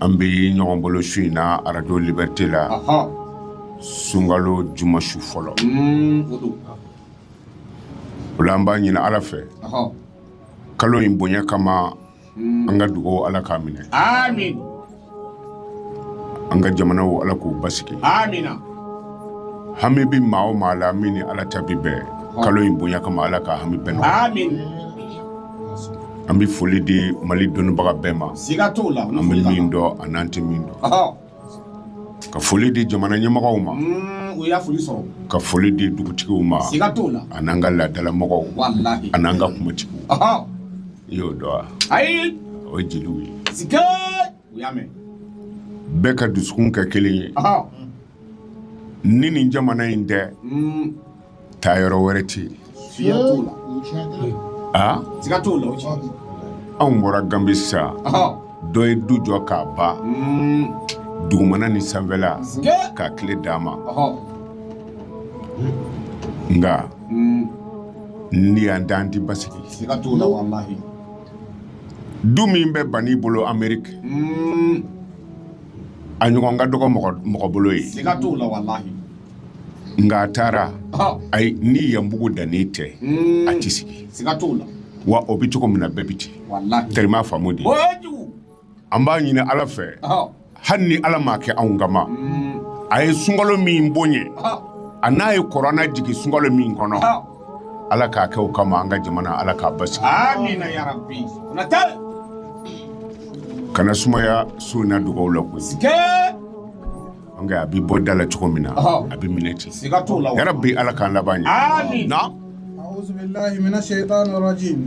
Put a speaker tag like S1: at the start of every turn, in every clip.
S1: an
S2: bɛ ɲɔgɔn bolo su in na arajo liberté
S1: la
S2: sunkalo juma su fɔlɔ o la an b'a ɲini ala fɛ
S1: kalo
S2: in bonya kama mm. an ka dugaw ala k'a minɛ an ka jamanaw ala k'u basigi hami bɛ maa o maa la min ni ala ta bɛ bɛn kalo in bonya kama ala ka hami bɛɛ an bɛ foli di mali dɔnnibaga bɛɛ ma siga t'o la an bɛ
S1: min dɔn a
S2: n'an tɛ min dɔn
S1: ka
S2: foli di jamana ɲɛmɔgɔw ma mm, o y'a foli sɔrɔ
S1: ka foli di
S2: dugutigiw ma siga t'o la a n'an ka
S1: laadalamɔgɔw
S2: a n'an ka
S1: kumatigiw i y'o dɔn wa
S2: ayi
S1: o ye jeliw ye
S2: siga
S1: o y'a mɛn bɛɛ
S2: ka dusukun kɛ kelen ye ni nin jamana in tɛ mm. taa yɔrɔ wɛrɛ
S1: tɛ
S2: yen anw bɔra ganbi sa dɔ ye
S1: du jɔ
S2: k'a ban mm. dugumana ni sanfɛla k'a kile d'an ma nka mm. ni yan t'an ti basigi du min bɛ Bani bolo ameriki mm. a ɲɔgɔn ka dɔgɔ mɔgɔ bolo yen nka a taara ayi
S1: ni yan
S2: bugudanin tɛ a ti sigi
S1: wa o bɛ
S2: cogo min na bɛɛ bɛ ten tari i m'a faamu
S1: de an b'a ɲini
S2: ala fɛ hali ni
S1: ala m'a
S2: kɛ anw kama a ye sunkalo min bonya a
S1: n'a ye
S2: kurana jigin sunkalo min kɔnɔ
S1: ala k'a
S2: kɛ o kama an ka jamana ala k'a basigi kana sumaya su in na dugaw la koyi a bɛ bɔ da la cogo min na a bɛ minɛ
S1: ten
S2: siga t'o la yarabi
S1: ala k'an
S2: laban ɲɛ na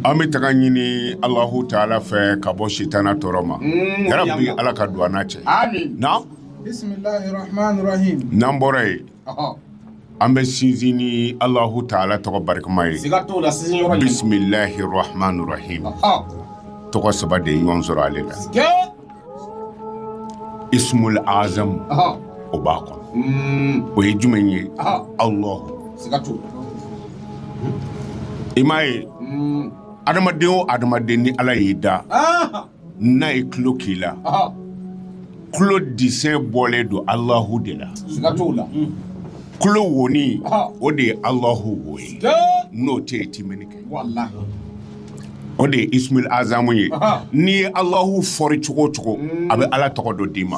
S3: an bɛ tanga ɲini
S2: alahu taala fɛ ka bɔ sitana tɔɔrɔ ma mm, yarabi ala ka don an n'a cɛ na
S3: n'an bɔra yen
S1: An
S2: bɛ sinsin ni Alahu taala tɔgɔ barikama ye, siga t'o la sinsin yɔrɔ
S1: ye, bisimilahi
S2: rahamani rahimi, ɔhɔ,
S1: tɔgɔ saba
S2: de ye ɲɔgɔn sɔrɔ ale la,
S1: siga tɛ,
S2: isumuli azamu, ɔhɔ, o
S1: b'a
S2: kɔnɔ, un, o ye jumɛn ye? ɔhɔ,
S1: Alahu,
S2: siga t'o la, i m'a ye, un, adamaden o adamaden ni Ala y'i da, ɔhɔ.
S1: n'a ye
S2: tulo k'i
S1: la
S2: tulo desɛn bɔlen don alahu de la tulo wonin o de ye
S1: alahu
S2: wo ye n'o tɛ
S1: yen i ti
S2: mɛnni kɛ o de ye isumuli azamu ye n'i ye
S1: alahu
S2: fɔri cogo o cogo a bɛ ala tɔgɔ dɔ d'i ma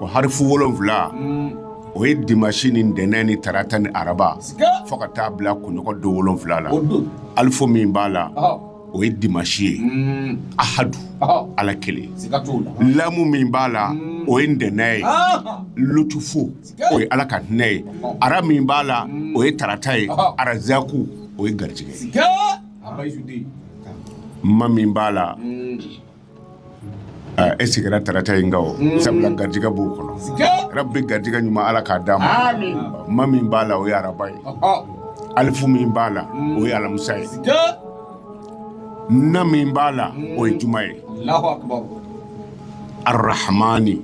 S1: O harifu
S2: wolonwula o ye dimasi ni ntɛnɛn ni tarata ni araba fo ka taa
S1: bila
S2: kunɲɔgɔn don wolonwula la alifu min
S1: b'a la
S2: o ye
S1: dimasi
S2: ye ahadu ala
S1: kelen lamu min
S2: b'a la o ye ntɛnɛn
S1: ye
S2: lutufu o ye ala ka hinɛ ye ara min b'a la o ye tarata ye arazaku o ye garijɛgɛ
S1: ye ma
S2: min b'a la E sigira tarata in sabula garijɛgɛ b'o kɔnɔ rabi
S1: garijɛgɛ
S2: ɲuman ala k'a d'a ma ma min
S1: b'a la o
S2: ye araba ye alifu
S1: min b'a
S2: la o ye alamisa ye na min b'a la o ye juma
S1: ye arahamani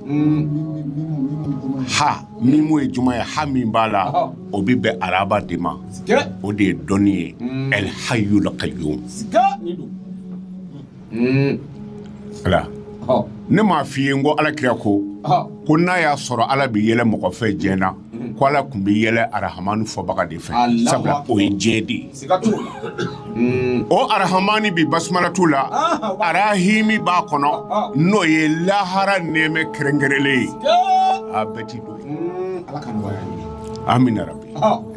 S2: ha min o ye juma ye ha min b'a la o bɛ bɛn araba de ma o de ye
S1: dɔnni ye
S2: alihayul kayumu mm. ala
S1: ne m'a f'i ye
S2: n ko ala kira ko ko n'a
S1: y'a
S2: sɔrɔ ala bɛ yɛlɛ mɔgɔ fɛ diɲɛ na mm. ko ala tun bɛ yɛlɛ arahamani fɔbaga de fɛ sabula o ye diɲɛ
S1: de
S2: ye mm. o arahamani bi basumalatu la ah, arahimi b'a kɔnɔ ah, ah. n'o ye lahara nɛɛmɛ kɛrɛnkɛrɛnlen ye a bɛɛ
S1: ti
S2: don amina
S1: rabi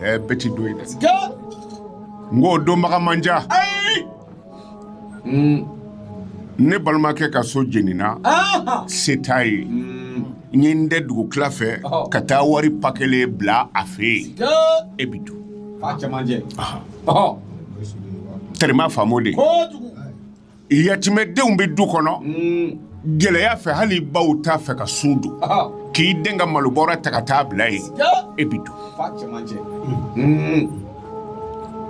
S2: ɛɛ bɛɛ
S1: ti don
S2: yen dɛ nk'o donbaga man ca ne balimakɛ ka so jenina se t'a ye n ye n dɛn dugu tila fɛ ka taa wari pa kelen bila a fɛ yen e bɛ to tɛrɛma faamu de yatimɛdenw bɛ du kɔnɔ gɛlɛya fɛ hali baw t'a fɛ ka sun don k'i dɛn ka malobɔrɔ ta ka taa bila yen e bɛ to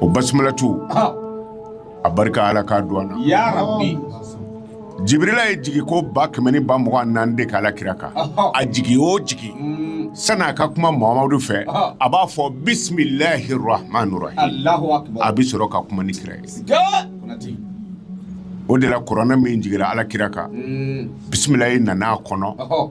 S2: o basumalatu a barika ala k'a don an na jibirila ye jigiko ba kɛmɛ ni ba mugan ni naani de k'ala kira kan a jigi o jigi mm. sani a ka kuma mamadu fɛ a b'a fɔ bisimilahi rahman rahim a bɛ sɔrɔ ka kuma ni kira ye o de la kuranɛ min jigira ala kira kan mm. bisimilahi nana a kɔnɔ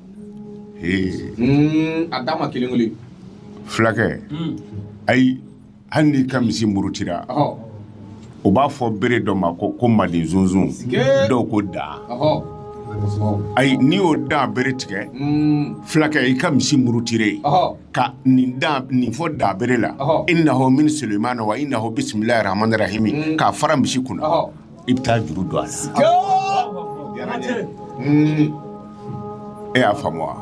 S1: a dama kelen kelen
S2: fulakɛ ayi hali n'i ka misi murutira o b'a fɔ bere dɔ ma ko manden sunsun dɔw ko da ayi n'i y'o da bere tigɛ fulakɛ i ka misi murutire ka nin fɔ da bere la innahu min sulemana wa innahu bisimilahi rahmani rahimi k'a fara misi kunna i bɛ taa juru don a la hmm. e y'a faamu wa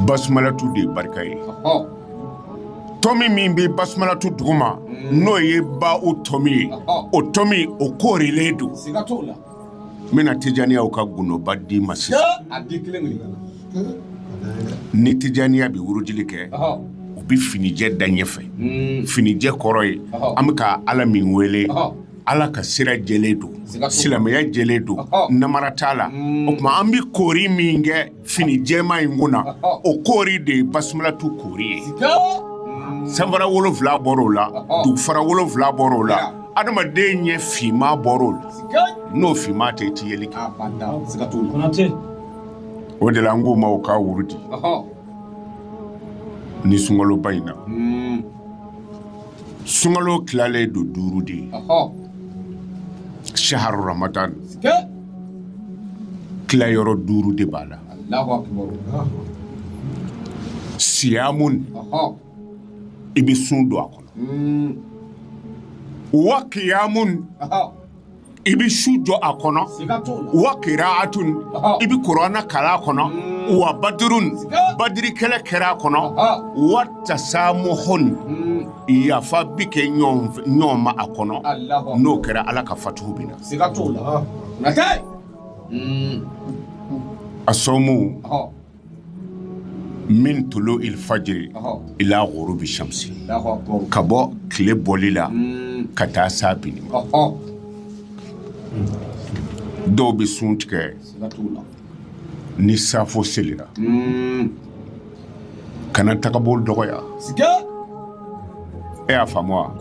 S2: basumalatu de ye barika ye tɔmi min bɛ basumalatu duguma hmm. n'o ye ba o tɔmi ye o tɔmi o koorilen don n bɛna tijaniyaw ka gundoba d'i ma sisan ni tijaniya bɛ wurudili kɛ u bɛ finijɛ da ɲɛfɛ hmm. finijɛ kɔrɔ ye an bɛ ka ala min wele ala ka sira jɛlen don silamɛya jɛlen don namara t'a la hmm. o tuma an bɛ koori min kɛ fini jɛma in kun na o koori de ye basumalatu koori ye hmm. sanfara wolonfila bɔr'o la dugufara wolonfila bɔr'o la adamaden ɲɛ finma bɔr'o la n'o finma tɛ i ti yeli kɛ o de la an k'u ma o k'a wurudi ni sunkaloba in na hmm. sunkalo tilalen don duuru de ye saharu ramadan tilayɔrɔ duuru de b'a la siyamun i bɛ sun don a kɔnɔ hmm. wa kiyamun i bɛ su jɔ a kɔnɔ wa kiraatun i bɛ kuranɛ kalan a kɔnɔ wa badurun badiri kɛlɛ kɛra a kɔnɔ wa tasamuhun yafa bɛ kɛ ɲɔgɔn ma a kɔnɔ n'o kɛra ala ka fatuhu bɛ na a sɔmu min tulu ilfajiri ila gurubi samsi ka bɔ tile bɔli la ka taa s'a binni ma dɔw bɛ sun tigɛ ni safo selira kana tagabolo dɔgɔya e y'a faamu wa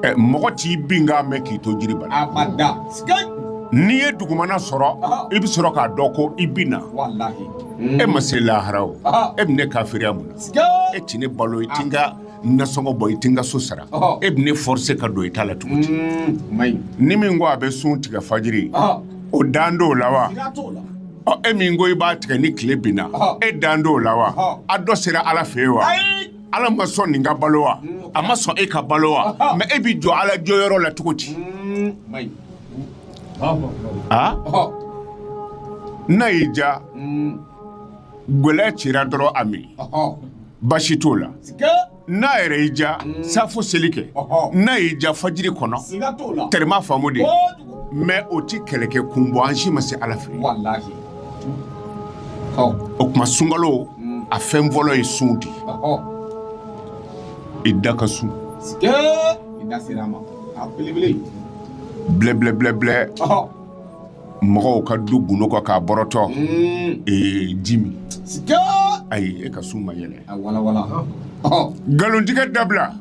S2: ɛ mɔgɔ t'i binkan mɛn k'i to jiri bala abada sikeyi n'i ye dugumana sɔrɔ Ɔhɔ. i bɛ sɔrɔ k'a dɔn ko i binna walahi e ma se lahara o Ɔhɔ. e bɛ ne kafiriya mun na e sikeyi ti ne balo i ti n ka nasɔngɔ bɔ i ti n ka so sara Ɔhɔ. e bɛ ne forcer ka don i ta la cogo di Mm, o man ɲi ni min ko a bɛ sun tigɛ fajiri Ɔhɔ. o dan t'o la wa sira t'o la Ɔ, e min ko i b'a tigɛ ni tile binna Ɔhɔ. e dan t'o la wa Ɔhɔ. a dɔ sera ala fɛ yen wa ayi ala ma sɔn nin ka balo wa a ma sɔn e ka balo wa mɛ e bɛ jɔ ala jɔyɔrɔ la cogo di a n'a y'i ja gɛlɛ cira dɔrɔn a min basi t'o la n'a yɛrɛ y'i ja safo seli kɛ n'a y'i ja fajiri kɔnɔ tɛrɛ m'a faamu de mɛ o tɛ kɛlɛkɛ kun bɔ an si ma se ala fɛ o tuma sunkalo mm. a fɛn fɔlɔ ye sun di i da ka sun blɛblɛblɛblɛ mɔgɔw ka du gundo kɔ k'a bɔrɔtɔ mm. ee ji min ayi e ka sun ma yɛlɛ nkalontigɛ dabila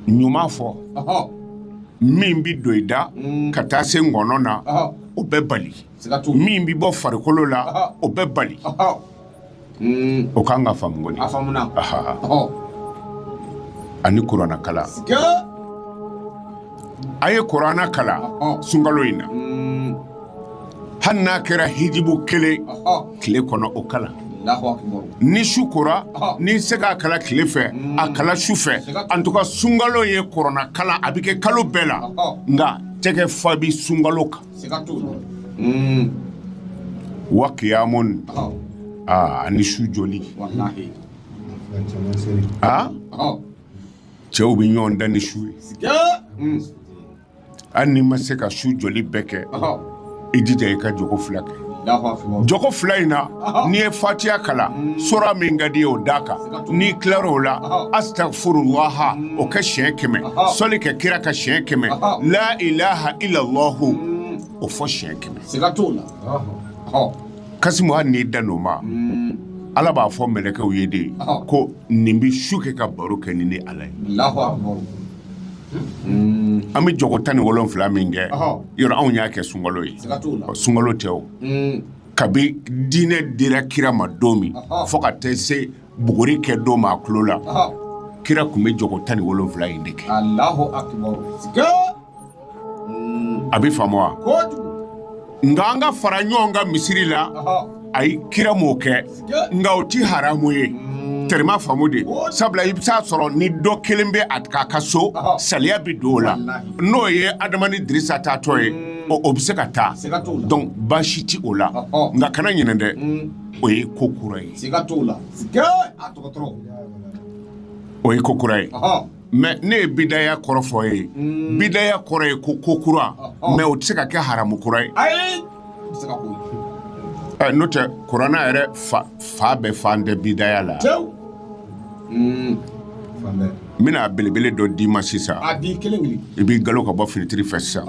S2: ɲuman fɔ min bɛ don i da mm. ka taa se ŋɔnɔ na o bɛ bali min bɛ bɔ farikolo la o bɛ bali mm. o kan ka faamu kɔni ani kuranna kala a ye kuranna kala sunkalo in na mm. hali n'a kɛra hijibu kelen tile kɔnɔ o kala ni su kora n'i se k'a kala tile fɛ mm. a kala su fɛ en tout cas sunkalo ye kuranna kala a bɛ kɛ kalo bɛɛ la nka tɛgɛ fa bi sunkalo kan mm. wa kiyamun aa ani su joli aa cɛw bɛ ɲɔgɔn dan ni su ye mm. hali n'i ma se ka su joli bɛɛ kɛ i jija i ka jogo fila kɛ jogo fila in na n'i ye fatiya kala mm. sora min ka di i ye o d'a kan n'i tilar'o la astagfirullaha o kɛ siɲɛ kɛmɛ sɔli kɛ kira kan siɲɛ kɛmɛ la ilaha illallahu mm. o fɔ siɲɛ kɛmɛ kasimu hali n'i dan'o ma mm. ala b'a fɔ mɛlɛkɛw ye de ko nin bɛ su kɛ ka baro kɛ ni ne ala ye an bɛ jogo tan ni wolonfila min kɛ yɔrɔ anw y'a kɛ sunkalo ye sunkalo tɛ o mm. kabi diinɛ dira kira ma don min fo ka taa se buguri kɛ don ma a tulo la kira tun bɛ jogo tan ni wolonfila in de kɛ a bɛ faamu wa nka an ka fara ɲɔgɔn kan misiri la ayi kira m'o kɛ nka o ti haramu ye mm. tɛrɛ m'a faamu dɛ sabula i bɛ taa a sɔrɔ ni dɔ kelen bɛ a k'a ka so saliya bɛ don o la n'o ye adama ni dirisa taatɔ ye mm. o bɛ se ka taa donc baasi ti o la nka kana ɲinɛ dɛ mm. o ye ko kura ye o ye ko kura ye mais ne ye bidaya kɔrɔ fɔ ye mm. bidaya kɔrɔ ye ko ko kura oh, oh. mais o tɛ se ka kɛ haramu kura ye n'o tɛ kuranna yɛrɛ fa bɛɛ fan tɛ bidaya la mm. n bɛna belebele dɔ d'i ma sisan i b'i galo ka bɔ finitiri fɛ sisan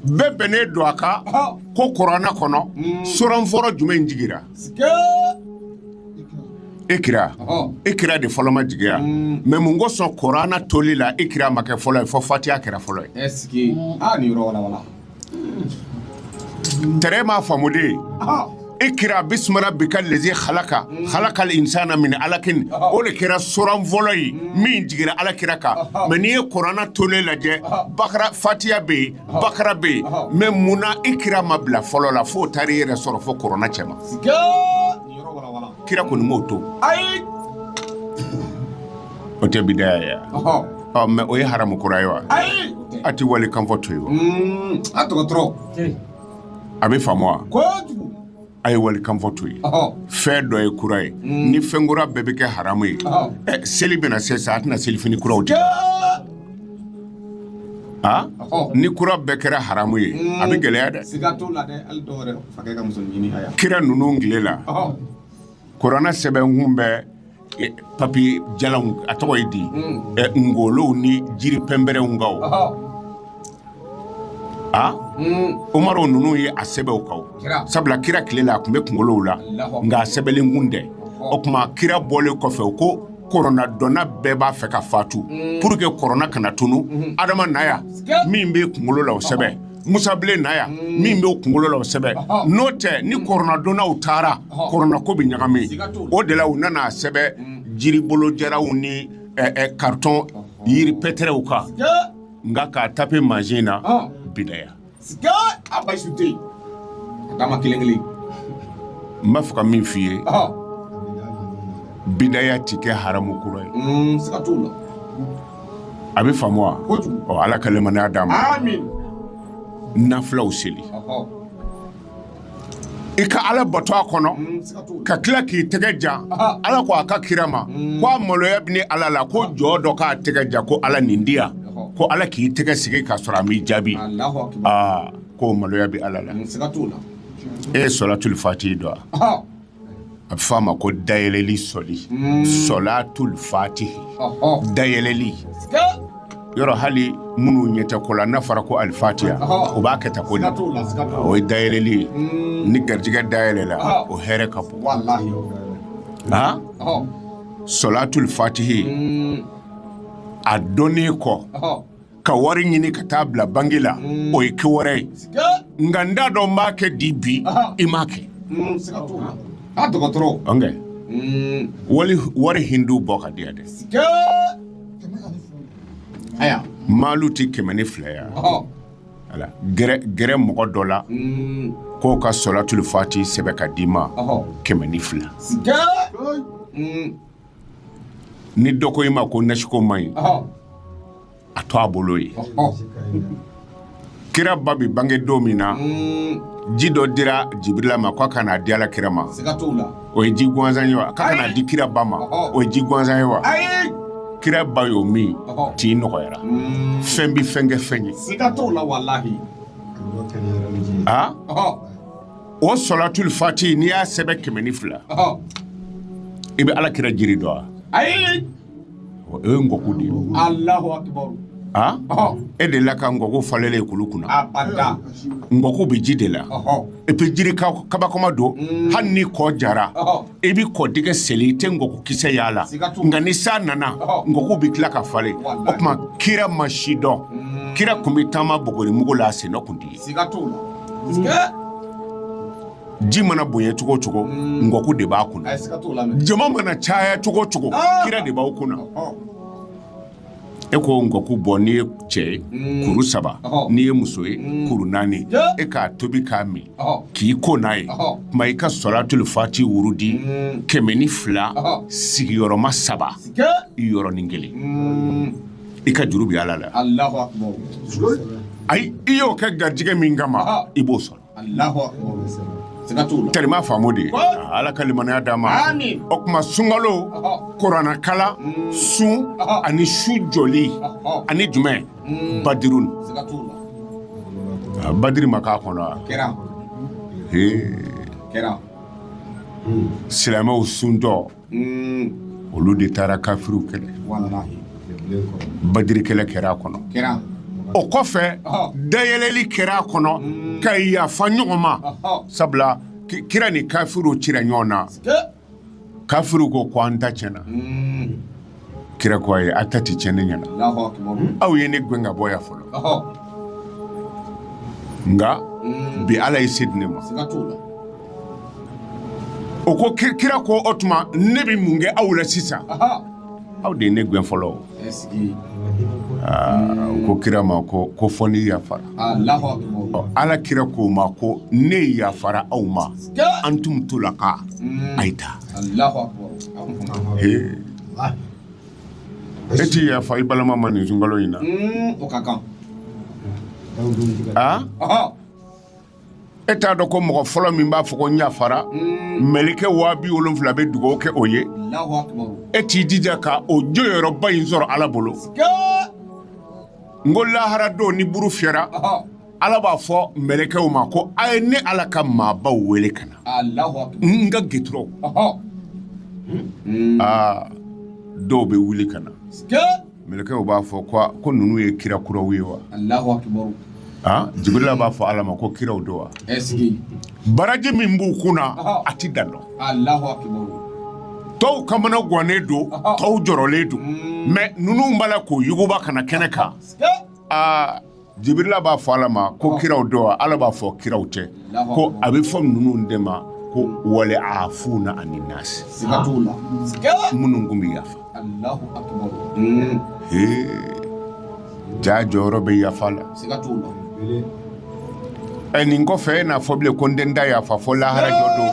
S2: bɛɛ bɛnnen don a kan ko kuranna kɔnɔ mm. soran fɔlɔ jumɛn jigira ikira ikira de fɔlɔ ma jigi wa mm. mais mun kosɔn korana toli la ikira ma kɛ fɔlɔ ye fɔ fatiya kɛra fɔlɔ ye tɛrɛ m'a faamu dɛ ikira bisimi rabika lezi halaka mm. halaka insana min alakin o de kɛra soran fɔlɔ ye mm. min jigira ala kira kan mais n'i ye korana tolen lajɛ bakara fatiya bɛ yen bakara bɛ yen mais mun na ikira ma bila fɔlɔ la fo taara i yɛrɛ sɔrɔ fo korana cɛma kira kɔni m'o to ayi o tɛ bidaya ye ɔ mais o ye haramu kura ye wa ayi a tɛ walikan fɔ to ye wa mm, a dɔgɔtɔrɔ a bɛ faamu wa kojugu a ye walikan fɔ to ye fɛn dɔ ye kura ye mm. ni fɛn kura bɛɛ bɛ kɛ haramu ye seli bɛna se sa a tɛna selifini kuraw tɛ Aa ni kura bɛɛ kɛra haramu ye a bɛ gɛlɛya dɛ kira ninnu tile la kurana sɛbɛn kun bɛ papiye jalanw a tɔgɔ ye di ngolow ni jiri pɛnpɛrɛw kan aa omari ninnu ye a sɛbɛn u kan sabula kira tile la a tun bɛ kunkolow la nka a sɛbɛlen kun tɛ o tuma kira bɔlen kɔfɛ o ko kɔrɔna dɔnna bɛɛ b'a fɛ ka fatu mm. pour que kɔrɔna kana tunu mm-hmm. adama na yan min bɛ kunkolo la o sɛbɛn musa bilen na yan mm. min bɛ kunkolo la o sɛbɛn n'o tɛ ni kɔrɔna dɔnnaw taara kɔrɔnako bɛ ɲagami o de la u nana a sɛbɛn mm. jiribolo jaraw ni karitɔn yiri pɛtɛrɛw kan nka k'a tape mansin na bidaya Sika a basi tɛ yen ka taama kelen kelen n b'a fɛ ka min f'i ye ɔhɔ bidaya ti kɛ haramu kura ye mm, sika t'o la a bɛ faamu wa kojugu ɔ ala ka limaniya d'an ma amin nafilaw seli ɔhɔ i ka ala bato a kɔnɔ mm, ka tila k'i tɛgɛ ja ala ko a ka kira ma mm. ko a maloya bɛ ne ala la ko jɔn dɔ k'a tɛgɛ ja ko ala nin di yan ko ala k'i tɛgɛ sigi k'a sɔrɔ a m'i jaabi k'o maloya bɛ ala la mm, e ye sɔlatul fati dɔn wa a bɛ fɔ a ma ko dayɛlɛli sɔli sɔlatul fatihi dayɛlɛli yɔrɔ hali minnu ɲɛ tɛ ko la n'a fɔra ko alifatiha o b'a kɛ ta ko la o ye dayɛlɛli ye ni garijɛgɛ dayɛlɛla o hɛrɛ ka bon aa sɔlatul fatihi a dɔnnen kɔ ka wari ɲini ka taa bila bangi la mm. o ye ko wɛrɛ ye nka n t'a dɔn n b'a kɛ di bi i m'a kɛ mm, a dɔgɔtɔrɔ ɔnkɛ mm. wali wari hindu bɔ ka di yan dɛ aya maalu ti kɛmɛ ni fila ya ala gɛrɛ gɛrɛ mɔgɔ dɔ la k'o ka sɔlatul fati sɛbɛ ka d'i ma kɛmɛ ni fila ni dɔ ko i ma ko nasiko man ɲi a to a bolo ye kira ba bi bange don min na mm. ji dɔ dira jibirila ma ko a ka na di ala kira ma o ye ji gansan ye wa k'a ka na di kira ba ma o ye ji gansan ye wa kira ba y'o min tin nɔgɔyara mm. fɛn bi fɛn kɛ fɛn ye aa o sɔlatul fati n'i y'a sɛbɛn kɛmɛ ni fila i bɛ ala kira jiri dɔn wa ayi o ye ngɔku de ye e delila ka ngɔku falenlen ye kulu kunna ngɔku bɛ ji de la et puis jiri kabakoma don mm. hali ni kɔ jara i bɛ kɔ dingɛ seli i tɛ ngɔku kisɛ y'a la nka ni san nana ngɔku bɛ tila ka falen o tuma kira ma si dɔn mm. kira tun bɛ taama buguri mugu la a sennɔ tun tɛ Siga t'o la. Siga! ji mana bonya cogo o cogo mm. ngɔku de b'a kunna jama mana caya cogo o cogo ah. kira de b'aw kunna e ko ngɔku bɔ n'i ye cɛ ye mm. kuru saba n'i ye muso ye mm. kuru naani e k'a tobi k'a min k'i ko n'a ye kuma i ka sɔlatul fati wurudi kɛmɛ ni fila sigiyɔrɔma saba yɔrɔnin kelen i ka juru bɛ ala la ayi i y'o kɛ garijɛgɛ min kama i b'o sɔrɔ terima faamu de ala ka limaniya d'a ma o tuma sunkalo kuranɛ kalan mm. sun ani su jɔli ani jumɛn mm. badiru badiri ma k'a kɔnɔ silamɛw suntɔ olu de taara kafiriw kɛlɛ badiri kɛlɛ kɛra a kɔnɔ o kɔfɛ dayɛlɛli kɛra a kɔnɔ mm. ka yafa ɲɔgɔn ma sabula kira ni kafiriw cira ɲɔgɔn na kafiriw ko ko an ta tiɲɛna mm. Kira ko ayi aw ta tɛ cɛn ne ɲɛna aw ye ne gɛn ka bɔ yan fɔlɔ nka bi ala ye se di ne ma o ko kira ko o tuma ne bɛ mun kɛ aw la sisan aw de ye ne gɛn fɔlɔ u ko kira ma ko fo n'i yafara ala kira ko o ma ko ne yafara aw ma antum tulaka a ye taa E tɛ yafa i balima ma nin sunkalo in na e t'a dɔn ko mɔgɔ fɔlɔ min b'a fɔ ko n yafara mɛlɛkɛ waa bi wolonwula bɛ dugawu kɛ o ye e t'i jija ka o jɔyɔrɔba in sɔrɔ ala bolo n ko lahara don ni buru fiyɛra ala b'a fɔ mɛlɛkɛw ma ko a ye ne ala ka maabaw wele ka na n ka gituraw dɔw bɛ wuli ka na mɛlɛkɛw b'a fɔ ko ninnu ye kira kuraw ye wa jibirila b'a fɔ ala ma ko kiraw don wa baraji min b'u kunna a tɛ dan dɔn tɔw kamana gannen don tɔw jɔrɔlen don mɛ ninnu b'a la k'u yuguba ka na kɛnɛ kan Jibirila b'a fɔ ala ma ko kiraw don wa ala b'a fɔ kiraw tɛ ko a bɛ fɔ ninnu de ma ko wale afuna ani nasi minnu kun bɛ yafa hmm. ja jɔyɔrɔ bɛ yafa la ɛ nin kɔfɛ e n'a fɔ bilen ko n tɛ n da yafa fo lahara jɔ don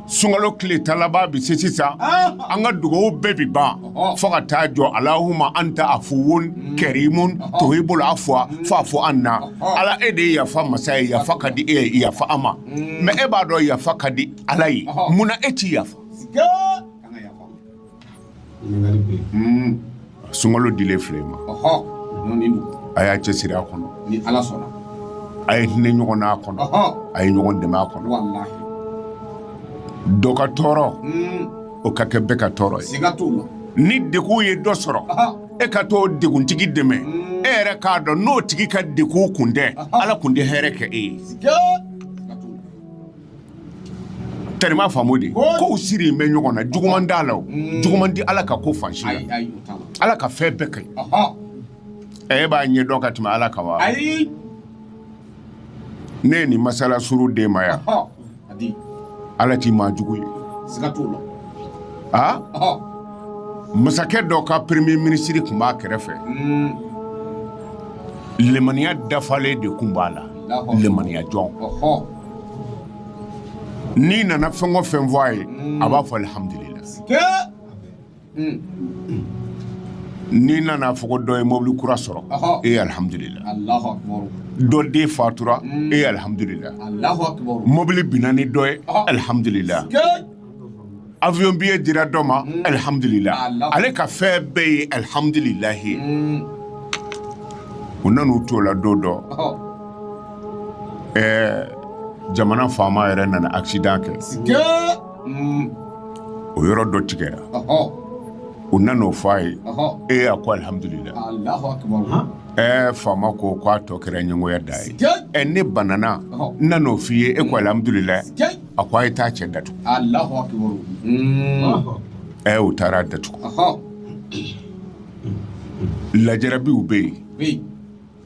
S2: sunkalo tile tan laban bɛ se sisan an ka dugaw bɛɛ bɛ ban fo ka taa jɔ alahuma anta afuwun kɛrimun tuhibul afwa fafu anna ala e de ye yafa masa ye yafa ka di e ye yafa an ma mais e b'a dɔn yafa ka di ala ye munna e ti yafa sunkalo dilen filɛ an ma a y'a cɛ siri a kɔnɔ a ye hinɛ ɲɔgɔn n'a kɔnɔ a ye ɲɔgɔn dɛmɛ a kɔnɔ dɔ ka tɔɔrɔ o ka kɛ bɛɛ ka tɔɔrɔ ye ni degun ye dɔ sɔrɔ e ka t'o deguntigi dɛmɛ e yɛrɛ k'a dɔn n'o tigi ka degun kun tɛ ala kun tɛ hɛrɛ kɛ e ye tellement faamu de kow sirilen bɛ ɲɔgɔn na juguman t'a la o mm. juguman ti ala ka ko fan si la ala ka fɛn bɛɛ ka ɲi e b'a ɲɛ dɔn ka tɛmɛ ala kan wa ne ye nin masala suru den ma yan ala ti maa jugu ye a masakɛ dɔ ka premier minisiri tun b'a kɛrɛfɛ mm. lemaniya dafalen de tun b'a la lemaniya jɔn n'i nana fɛn o fɛn fɔ a ye a b'a fɔ alihamudulila n'i nana fɔ ko dɔ ye mobili kura sɔrɔ e ye alihamudulila dɔ den fatura e ye alihamudulila mobili binna ni dɔ ye alihamudulila avion billet dira dɔ ma mm. alihamudulila ale ka fɛn bɛɛ ye alihamudulilahi ye mm. u nan'u t'o la don dɔ ɛɛ jamana faama yɛrɛ nana accident kɛ mm. o yɔrɔ dɔ tigɛra u nan'o fɔ a ye ee a ko alihamudulila ɛɛ faama ko k'a tɔ kɛra ɲɛngoya da ye ɛ ne banana n nan'o f'i ye e ko alihamudulila a ko a ye taa cɛ datugu alahu akibaru ɛ u taara datugu ɔhɔ lajarabiw bɛ yen bi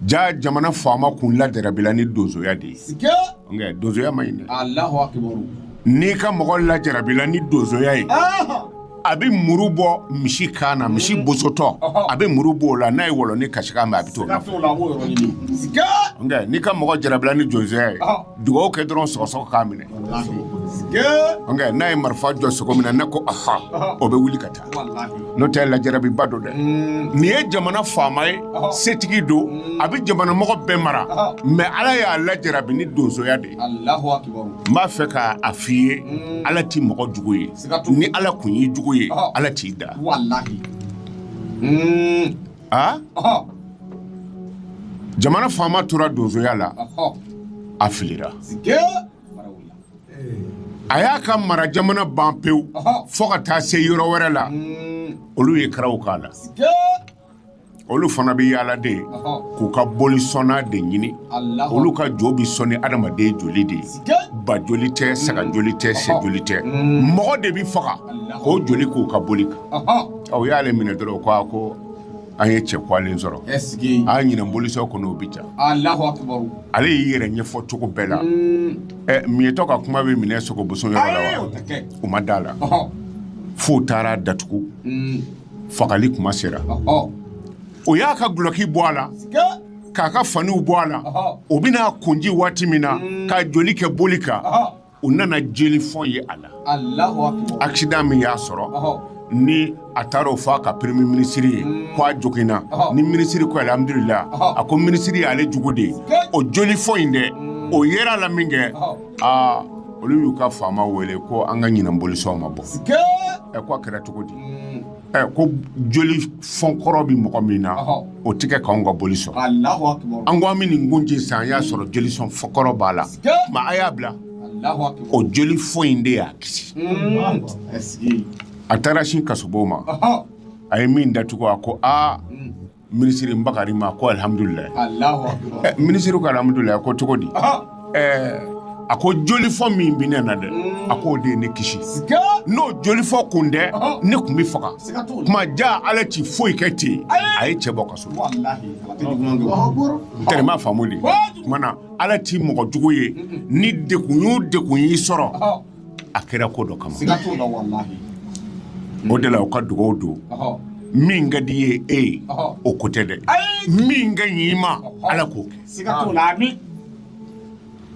S2: ja jamana faama kun lajarabila ni donsoya de ye sike nka donsoya man ɲi dɛ alahu akibaru n'i ka mɔgɔ lajarabila ni donsoya ye ɔhɔ a bɛ muru bɔ misi kan na misi mhm. bosotɔ a bɛ muru bɔ o la n'a ye wɔlɔnin kasi mɛn a bɛ to nka n'i ka mɔgɔ jarabila ni donsoya ye dugawu kɛ dɔrɔn sɔgɔsɔgɔ k'a minɛ n'a ye marifa jɔ sogo min na ne ko aha o bɛ wuli ka taa n'o tɛ lajarabiba don dɛ mm. nin ye jamana faama ye setigi don mm. a bɛ jamana mɔgɔ bɛɛ mara mɛ ala y'a lajarabi ni donsoya de ye n b'a fɛ k'a f'i ye mm. ala tɛ mɔgɔ jugu ye ni ala kun y'i jugu ye ala t'i da jamana faama tora donsoya la a filira a y'a ka mara jamana ban pewu fo ka taa se yɔrɔ wɛrɛ la olu ye karaw k'a la olu fana bɛ yaala de k'u ka boli sɔnna de ɲini olu ka jo bɛ sɔn ni adamaden joli de ye ba joli tɛ saga joli tɛ sɛ joli tɛ mm. mɔgɔ de bɛ faga k'o joli k'u ka boli kan u y'ale minɛ dɔrɔn ko a ko an ye cɛ kwalen sɔrɔ a ɲinan bolisɔn kɔnɔ o bɛ ja ale y'i yɛrɛ ɲɛfɔ cogo bɛɛ la mm. ɛ miyetɔ ka kuma bɛ minɛ sogoboso yɔrɔ la wa u ma da a la f'u taar'a datugu mm. fagali kuma sera o y'a ka gulɔki bɔ a la k'a ka faniw bɔ a la o bɛn'a kun ci waati min na mm. k'a joli kɛ boli kan u nana joli fɔn ye a la aksidan min y'a sɔrɔ ni a taara o fɔ a ka peremiye minisiri ye mm. ko a joginna ni minisiri ko alihamudulila a ko minisiri y'ale jugu de ye o joli fɔn in dɛ mm. o yera a la minkɛ aa olu y'u ka faama wele ko an ka ɲinan bolisɔn ma bɔ ɛ ko a kɛra cogo di mm. ɛ ko joli fɔnkɔrɔ bɛ mɔgɔ min na o tɛ kɛ k'anw ka boli sɔn an ko an bɛ nin kun ci sisan an y'a sɔrɔ joli sɔn fɔnkɔrɔ b'a la ma a y'a bila o joli fɔn in de y'a kisi mm. a taara sin kasobon ma a ye min datugu a ko aa mm. Minisiri Bakari ma ko alihamudulila minisiri ko alihamudulila ko cogo di a ko jolifɔn min bɛ ne na dɛ a k'o de ye ne kisi n'o jolifɔn kun tɛ ne kun bɛ faga kuma ja ala tɛ foyi kɛ ten a ye cɛ bɔ kaso n terima faamu dɛ kuma na ala tɛ mɔgɔ jugu ye ni degun o degun y'i sɔrɔ a kɛra ko dɔ kama o de la u ka dugawu don min ka di ye e ye o ko tɛ dɛ min ka ɲi i ma ala k'o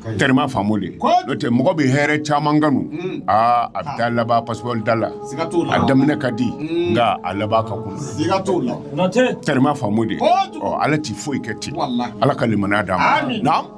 S2: kɛ terima faamu dɛ n'o tɛ mɔgɔ bɛ hɛrɛ caman kanu mm. aa a bɛ taa laban pasipɔri da la a daminɛ ka di mm. nka a laban ka kunan terima faamu dɛ ɔ ala tɛ foyi kɛ ten ala ka limaniya d'an ma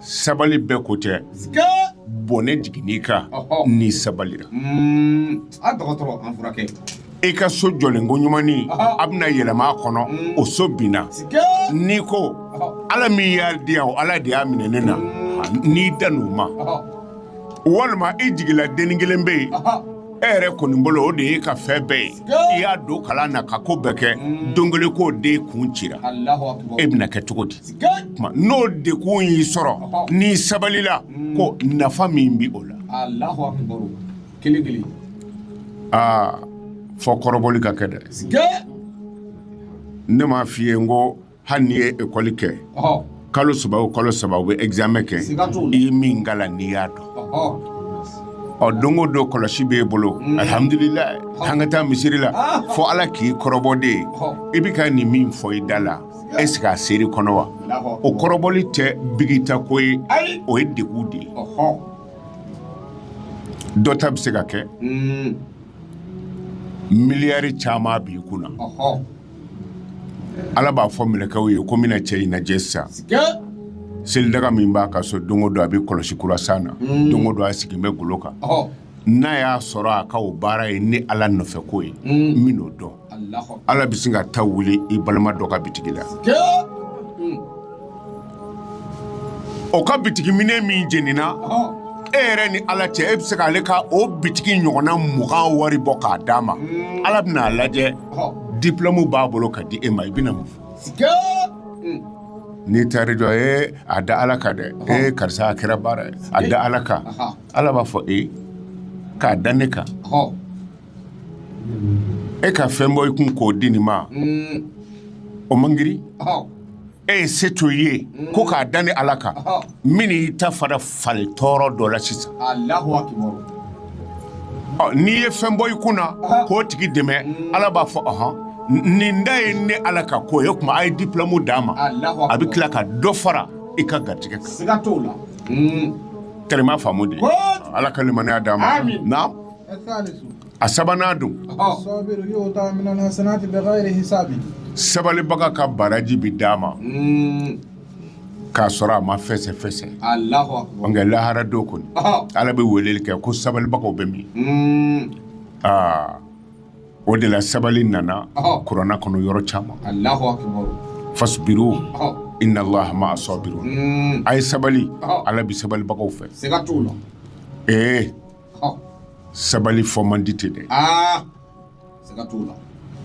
S2: sabali bɛɛ ko tɛ bɔnɛ jiginn'i kan
S1: n'i
S2: sabalila i ka so jɔlen ko ɲuman a bɛna yɛlɛma kɔnɔ o so binna n'i ko ala min y'a di yan ala de y'a minɛ ne na n'i dann'o ma walima i jigila dennin kelen bɛ yen e yɛrɛ kɔni bolo o de y'i ka fɛn bɛɛ ye i y'a don kalan na ka ko bɛɛ kɛ don kelen ko den kun cira e bɛna kɛ cogo di n'o degun y'i sɔrɔ n'i sabalila ko nafa min bɛ o la aa fo kɔrɔbɔli ka kɛ dɛ ne m'a f'i ye n ko hali n'i ye ekɔli kɛ kalo saba o kalo saba u bɛ egzamɛ kɛ i ye min kalan n'i y'a dɔn ɔ don o don kɔlɔsi b'e bolo mm. alihamudulilayi an ka taa misiri la ah. fo ala k'i kɔrɔbɔ dɛ i bɛ ka nin min fɔ i da la ɛsike a ser'i kɔnɔ wa o kɔrɔbɔli tɛ bigita ko ye o ye degun de ye dɔ ta bɛ se ka kɛ hmm. miliyari caman b'i kun na ala b'a fɔ mɛlɛkɛw ye ko n bɛna cɛ in lajɛ sisan selidaga min b'a ka so don o don a bɛ kɔlɔsi kura san na hmm. don o don a sigilen bɛ golo kan n'a y'a sɔrɔ a ka o baara ye ne ala nɔfɛ ko ye hmm. n bɛn'o dɔn ala bɛ sin ka ta wuli i balima dɔ ka bitigi la hmm. o ka bitigi minɛn min jenina e yɛrɛ ni ala cɛ e bɛ se k'ale ka o bitigi ɲɔgɔnna mugan wari bɔ k'a d'a ma hmm. ala bɛna a lajɛ diplɔmu b'a bolo k'a di e ma i bɛna mun fɔ hmm. n'i taar'i jɔ e a da ala kan dɛ e karisa a kɛra baara ye a da ala kan ala b'a fɔ e k'a da ne kan e ka fɛn bɔ i kun k'o di nin ma mm. o man girin e ye se to i ye mm. ko k'a da ne ala kan n bɛn'i ta fana falen tɔɔrɔ dɔ la sisan n'i ye fɛn bɔ i kun na k'o tigi dɛmɛ mm. ala b'a fɔ ɔhɔn nin ta ye ne ala ka ko ye kuma a ye diplɔmu d'a ma a bɛ tila ka dɔ fara i ka garijɛgɛ kan tɛrɛma faamu dɛ ala ka limaniya d'an ma a sabanan dun sabalibaga ka baraji bɛ d'a ma k'a sɔrɔ a ma fɛsɛfɛsɛ nka lahara don kɔni ala bɛ weleli kɛ ko sabalibagaw bɛ min aa o de la sabali nana kurana kɔnɔ yɔrɔ caman fasibiru inna laha ma'a sɔbiru a ye sabali ala bɛ sabalibagaw fɛ ee sabali fɔ man di ten dɛ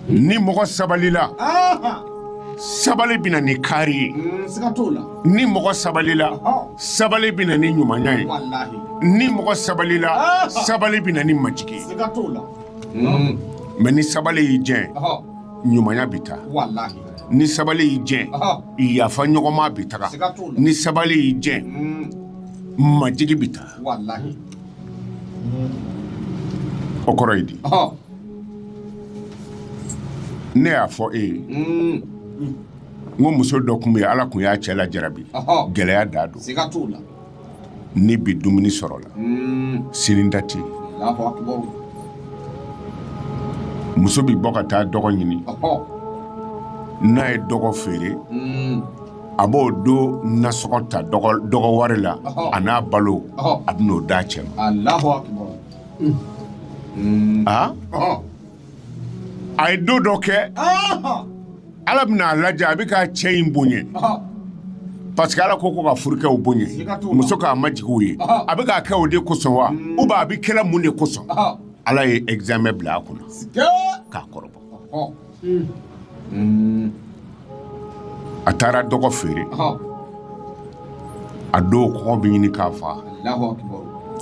S2: ni mɔgɔ sabalila sabali bɛ na ni kaari ye mm, ni mɔgɔ sabalila sabali bɛ na ni ɲumanya ye ni mɔgɔ sabalila sabali bɛ na ni majigi ye mm. mais ni sabali y'i jɛ ɲumanya bɛ taa ni sabali y'i jɛ yafa ɲɔgɔnma bɛ taga ni sabali y'i jɛ mm. majigi bɛ taa o kɔrɔ ye di ne y'a fɔ e ye mm. n ko muso dɔ tun bɛ yen ala tun y'a cɛ lajarabi gɛlɛya da don ni bi dumuni sɔrɔla mm. sini ta tɛ muso bɛ bɔ ka taa dɔgɔ ɲini n'a ye dɔgɔ feere mm. a b'o don nasɔngɔ ta dɔgɔ wari la a n'a balo a bɛ n'o d'a cɛ ma aa a ye don dɔ kɛ ala bɛna a lajɛ a bɛ ka cɛ in bonya parce que ala ko ko ka furukɛw bonya muso k'a majigi u ye a bɛ k'a kɛ o de kosɔn wa ou bien a bɛ kɛ la mun de kosɔn ala ye examen bila a kunna k'a kɔrɔbɔ a taara dɔgɔ feere a don kɔngɔ bɛ ɲini k'a faa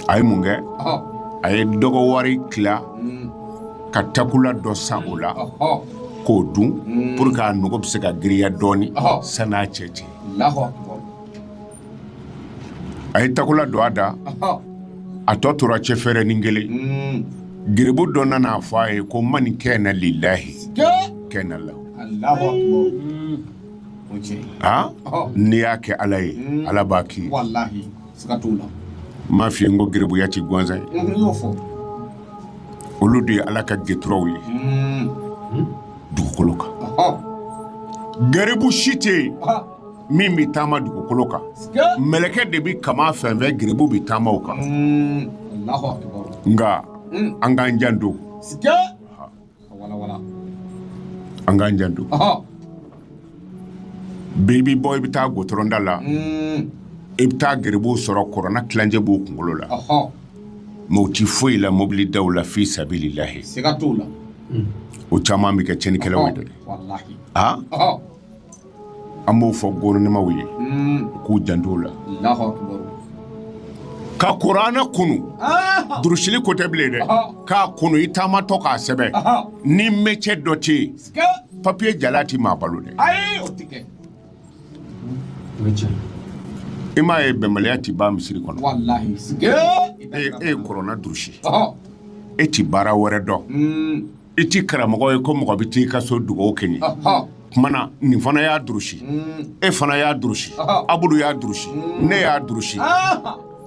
S2: a ye mun kɛ a ye dɔgɔ wari tila mm. ka takula dɔ san o la k'o dun mm. pour que a nogo bɛ se ka giriya dɔɔnin sani n'a cɛ cɛ a ye takula don a da a tɔ tora cɛfɛrɛnnin kelen mm. garibu dɔ nana a fɔ a ye ko mani kana lilayi kana la mm. n'i y'a kɛ ala ye mm. ala b'a k'i ye m'a f'i ye n ko garibuya tɛ gansan ye olu de ye ala ka gɛturaw ye dugukolo kan garibu si tɛ yen min bɛ taama dugukolo kan mɛlɛkɛ de bɛ kaman fɛnsɛn garibu bɛ taama o kan nka an k'an janto an k'an janto bi i bɛ bɔ i bɛ taa gɔtɔrɔn da la i bɛ taa garibuw sɔrɔ kurana tilancɛ b'u kunkolo la mais u tɛ foyi la mobili daw la fi sabililayi
S1: o caman
S2: bɛ kɛ cɛnnikɛlaw ye dɛ an b'o fɔ gouvernement ye k'u janto la ka kuranɛ kunu durusili ko tɛ bilen dɛ k'a kunu i taamatɔ k'a sɛbɛn ni métier dɔ tɛ yen papiye jala tɛ maa balo dɛ i m'a ye bɛnbaliya tɛ ban misiri kɔnɔ e ye kuranɛ durusi e tɛ baara wɛrɛ dɔn i tɛ karamɔgɔ ye ko mɔgɔ bɛ t'i ka so dugawu kɛ n ye kuma na nin fana y'a durusi mm. e fana y'a durusi abudu y'a durusi mm. ne y'a durusi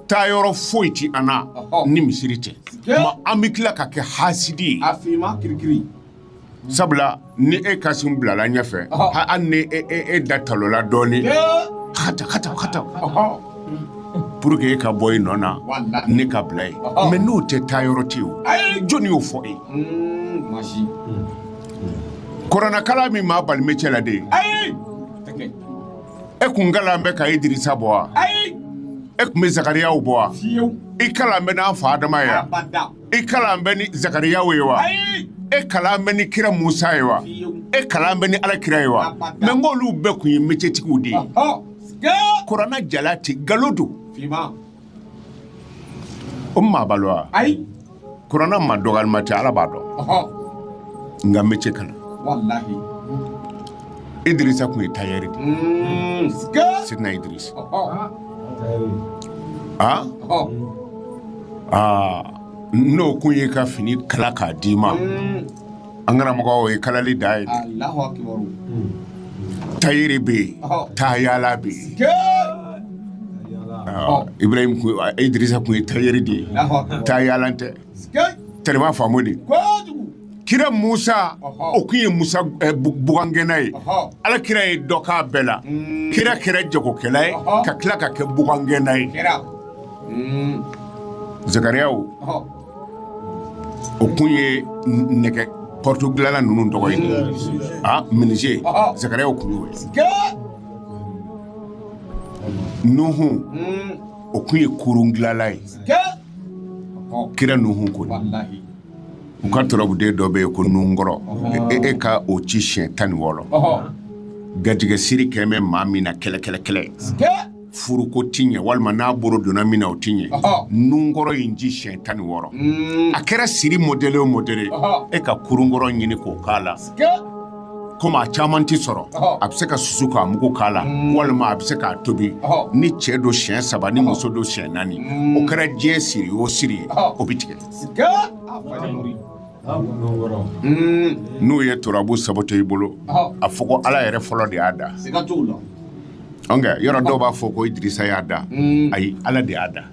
S2: taa yɔrɔ foyi ti an na ni misiri tɛ mais an bɛ tila ka kɛ hasidi ye sabula ni e kasim bilala ɲɛfɛ hali ni e, e, e da talola dɔɔnin hata hata hata pour que e ka bɔ i nɔ na ne ka bila ye mais n'o tɛ taa yɔrɔ tɛ o jɔnni y'o fɔ e kuranɛkalan min maa bali métier la de e kun kalan bɛ ka idirisa bɔ wa e kun bɛ zakariyaw bɔ wa i kalan bɛ n'an fa adama ye wa i kalan bɛ ni zakariyaw ye wa e kalan bɛ ni kira musa ye wa e kalan bɛ ni ala kira ye wa mais nk'olu bɛɛ kun ye métiertigiw de ye kuranɛ jala tɛ nkalon don o maa balo wa ayi kuranɛ ma dɔgɔyalima tɛ Ala b'a dɔn nka métier kalan Idirisa kun ye tailleur de ye Seydina Idirisa aa aa n'o kun y'i ka fini kala k'a d'i ma an karamɔgɔ o ye kalali dan ye tailleur bɛ yen tayala bɛ yen ibrahim idirisa kun ye tailleur de ye tayala tɛ i b'a faamu dɛ kira musa o kun ye musa eh, bugangɛnna ye ala kira ye dɔ k'a bɛɛ la mm. kira kɛra jagokɛla ye ka tila ka kɛ bugangɛnna ye mm. zakariya o kun ye nɛgɛ porte dilanla ninnu tɔgɔ ye a menuisier zakariya kun ye nuhun o kun ye kurun dilanla ye kira nuhun ko u ka turabuden dɔ bɛ yen ko nunkɔrɔ e ka o ci siɲɛ tan ni wɔɔrɔ garijɛgɛ siri kɛmɛ bɛ maa min na kɛlɛ kɛlɛ kɛlɛ furuko tɛ ɲɛ walima n'a bolo donna min na o tɛ ɲɛ nunkɔrɔ in ci siyɛn tan ni wɔɔrɔ mm. a kɛra siri modèle o modèle e ka kurunkɔrɔ ɲini k'o k'a la komi a caman tɛ sɔrɔ a bɛ se ka susu k'a mugu k'a la mm. walima a bɛ se k'a tobi ni cɛ don siyɛn saba ni muso don siyɛn naani mm. o kɛra diɲɛ siri o siri ye o bɛ tigɛ. n'u ye turabu saboter i bolo a fɔ ko ala yɛrɛ fɔlɔ de y'a da yɔrɔ dɔw b'a fɔ ko idirisa y'a da mm. ayi ala de y'a da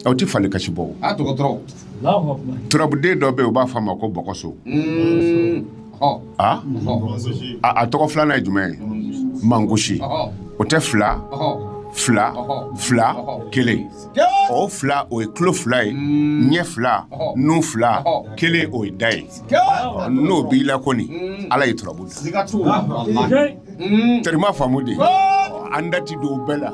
S2: aw tɛ fali kasi bɔ turabuden dɔ bɛ yen u b'a fɔ a ma ko bɔkɔso mm. a tɔgɔ filanan ye jumɛn ye mangusi o tɛ fila fila fila kelen o fila o ye tulo fila ye mm. ɲɛ fila nun fila kelen o ye da ye n'o b'i la kɔni mm. ala ye turabu da mm. terima faamu de an da tɛ don bɛɛ la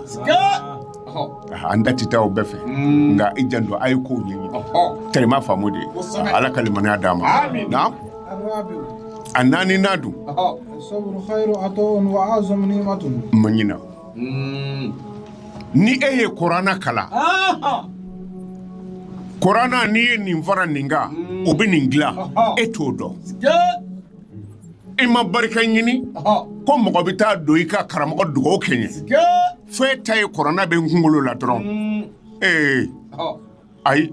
S2: an da tɛ taa o bɛɛ fɛ mm. nka i janto a ye kow ɲɛɲini terima faamu de ala ka limaniya d'a ma a naaninan dun ma ɲina ni e ye kuranɛ kalan kuranɛ n'i ye nin fara nin kan o bɛ nin dilan e t'o dɔn i ma barika ɲini ko mɔgɔ bɛ taa don i kan karamɔgɔ dugawu kɛ n ye fo e ta ye kuranɛ bɛ n kunkolo la dɔrɔn ee ayi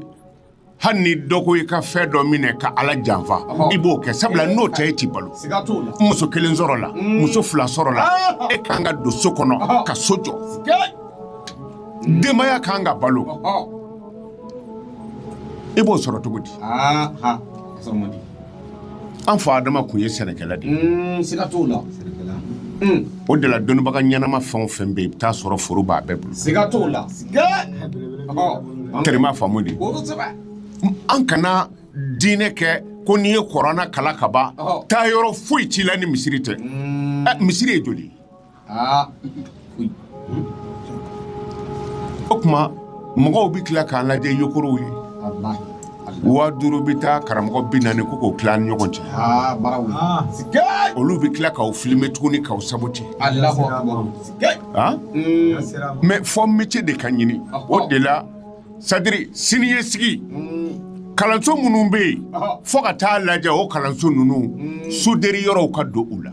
S2: hali ni dɔ ko i ka fɛn dɔ minɛ ka ala janfa i b'o kɛ sabula n'o tɛ e t'i balo muso kelen sɔrɔla mm. muso fila sɔrɔla ah. e kan ka don so kɔnɔ ka so jɔ denbaya kan ka balo i b'o sɔrɔ cogo di An fa adama tun ye sɛnɛkɛla de ye siga t'o la o de la dɔnnibaga ɲɛnama fɛn o fɛn bɛ yen i bɛ t'a sɔrɔ foro b'a bɛɛ bolo siga t'o la terima faamu de an kana diinɛ kɛ ko n'i ye kuranɛ kalan ka ban taa yɔrɔ foyi t'i la ni misiri tɛ misiri ye joli aa o tuma mɔgɔw bɛ tila k'an lajɛ yogorow ye waa duuru bɛ taa karamɔgɔ bi naani ko k'o tila ni ɲɔgɔn cɛ olu bɛ tila k'aw filmer tuguni k'aw saboter mais fo métier de ka ɲini o de la c'est-à-dire siniɲɛsigi kalanso minnu bɛ yen fo ka taa lajɛ o kalanso ninnu soudeur yɔrɔw ka don u la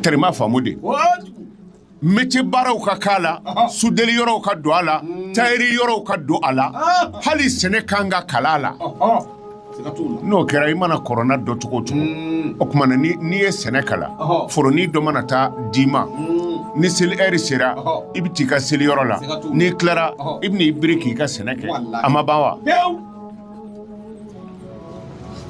S2: terima faamu de métier baaraw ka k'a la soudeur yɔrɔw ka don a la mm. tailleur yɔrɔw ka don a la ah. hali sɛnɛ kan ka kalan a la n'o kɛra i mana kuranɛ dɔn cogo o cogo mm. o tuma na n'i ye sɛnɛ kalan foronin dɔ mana taa d'i ma mm. ni seli heure sera i bɛ t'i ka seli yɔrɔ la n'i tilara i bɛ na i biri k'i ka sɛnɛ kɛ a ma ban wa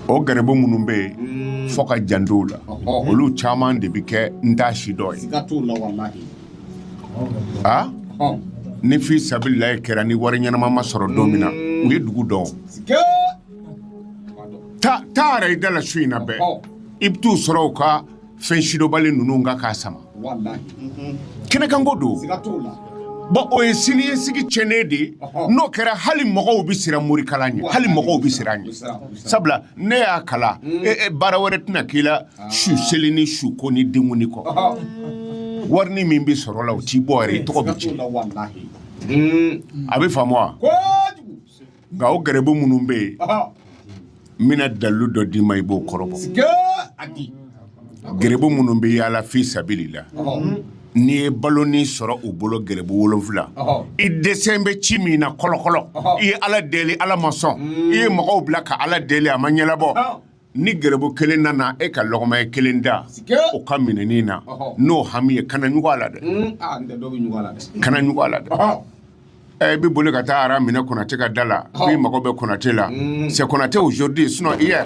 S2: o garibu minnu bɛ yen fo ka janto u la olu caman de bɛ kɛ n t'a si dɔn ye a ni fi sabililayi kɛra ni wari ɲɛnama ma sɔrɔ don min na u ye dugu dɔn taa yɛrɛ i da la su in na bɛɛ i bɛ t'u sɔrɔ u ka fɛn sidɔnbali ninnu kan k'a sama kɛnɛkanko don bon o ye siniɲɛsigi tiɲɛnen de ye n'o kɛra hali mɔgɔw bɛ siran morikalan ɲɛ hali mɔgɔw bɛ siran ɲɛ sabula n'i y'a kalan hmm. e, e, baara wɛrɛ tɛna k'i la ah. su seli ni su ko ni denkundi kɔ warinin min bɛ sɔrɔ la o t'i bɔ yɛrɛ i tɔgɔ bɛ tiɲɛ a bɛ faamu wa nka o garibu minnu bɛ yen n bɛna dalilu dɔ d'i ma i b'o kɔrɔbɔ garibu minnu bɛ yaala fi sabili la n'i ye balonin sɔrɔ u bolo garibu wolonwula i dɛsɛlen bɛ ci min na kɔlɔkɔlɔ i ye ala deli ala ma sɔn i ye mɔgɔw bila ka ala deli a ma ɲɛnabɔ ni gɛrɛbu kelen nana e ka lɔgɔma ye kelen da o ka minɛnnin na n'o hami ye kana ɲugun a la dɛ kana ɲugun a la dɛ i bɛ boli ka taa aran minɛ konate ka da la i mago bɛ konate la c'est konate aujourd'hui sinon hier